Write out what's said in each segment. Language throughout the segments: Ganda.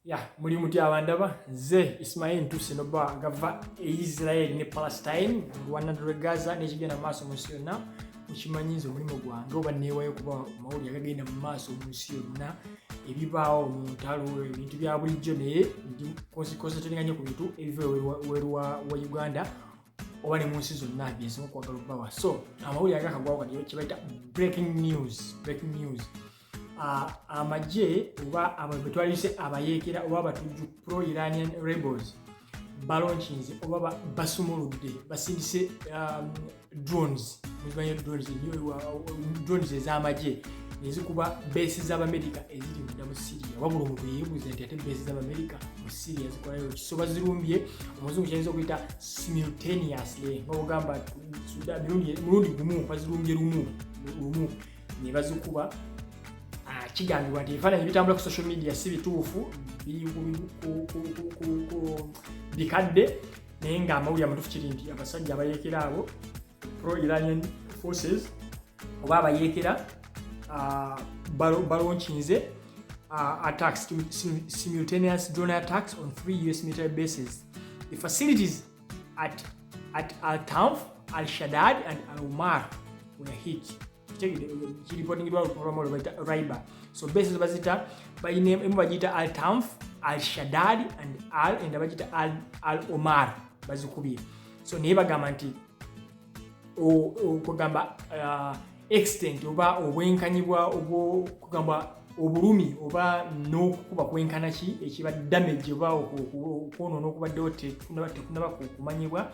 ya muli mutya abandaba nze ismail ntuuse noba ngava e israel ne palestine lwanadulwe gaza nekigenda mu maaso mu nsi yonna mukimanyi nze omulimu gwange oba neewayo kuba mawuli agagenda mu maaso mu nsi yonna ebibaawo mu ntalo ebintu bya bulijjo naye ndi konsetenga nyo ku bintu ebiva weru wa uganda oba ne mu nsi zonna byensinga okwagala okubawa so amawuli agakagwawo kati kyebayita breaking news breaking news amagye oba abantu betwalise abayeekera oba abatujju pro iranian rebels balonkinze oba basumuludde basindise um, drones muzimanya drones drones ez'amagye nezikuba beesi z'abamerika eziri munda mu syria wabula omuntu yeebuuza nti ate beesi z'abamerika mu syria zikolayo kisoba zirumbye omuzungu kyayinza okuyita simultaneously nga ogamba mulundi gumu bazirumbye lumu lumu ne bazikuba ah, kigambibwa nti ebifaananyi bitambula ku social media si bituufu bikadde naye nga amawulire amatufu kiri nti abasajja abayeekera abo pro iranian forces oba abayeekera ah, balonkinze ah, attacks simultaneous drone attacks on three us military bases the facilities at at Al-Tanf, Al-Shaddad and Al-Umar were hit kiripotingirwa olwamolo bayita riba so bases bazita emu bagiyita al tamf al shadad and al enda bagiyita al omar bazikubye so naye bagamba nti okugamba uh, extent oba obwenkanyibwa obwokugamba obulumi oba n'okukuba kwenkana ki ekiba damage oba okwonoona okubaddewo tekunaba kumanyibwa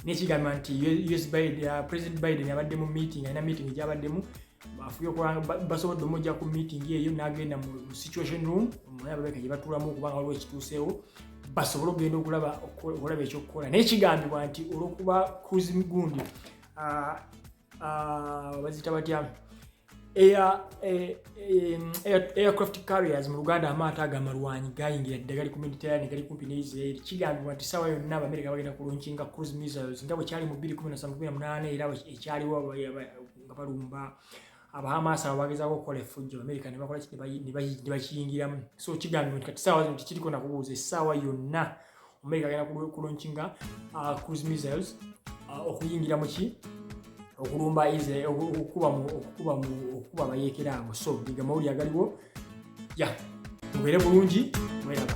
nekigamba nti us biden uh, president biden abadde mu meeting alina meeting gyabaddemu afuye okulanga basobodde omujja ku meeting eyo nagenda mu situation room omulabaeka gye batulamu okubanga waliwo ekituuseewo basobole okugenda okulaba okulaba ekyokukola naye kigambibwa nti olwokuba cruise migundi ah, ah, bazita batya eh, eh, aircraft carriers mu luganda amaato ago amalwanyi gayingira dda gali ku mediterrane gali kumpi ne israeli kigambibwa nti saawa yonna abamerika bagenda kulunkinga cruise missiles nga bwe kyali mu 218 era ekyaliwo nga balumba abahamaasi abo bagezaako okukola effujjo amerika nebakola nebakiyingiramu so kigambibwa nti kati saawa zino tekiriko nakubuuza essaawa yonna amerika agenda kulonkinga uh, cruise missiles uh, okuyingira muki okulumba israel okukuba okukuba okukuba abayeekera abo so bigamawuli agaliwo ya mubeere bulungi mweraba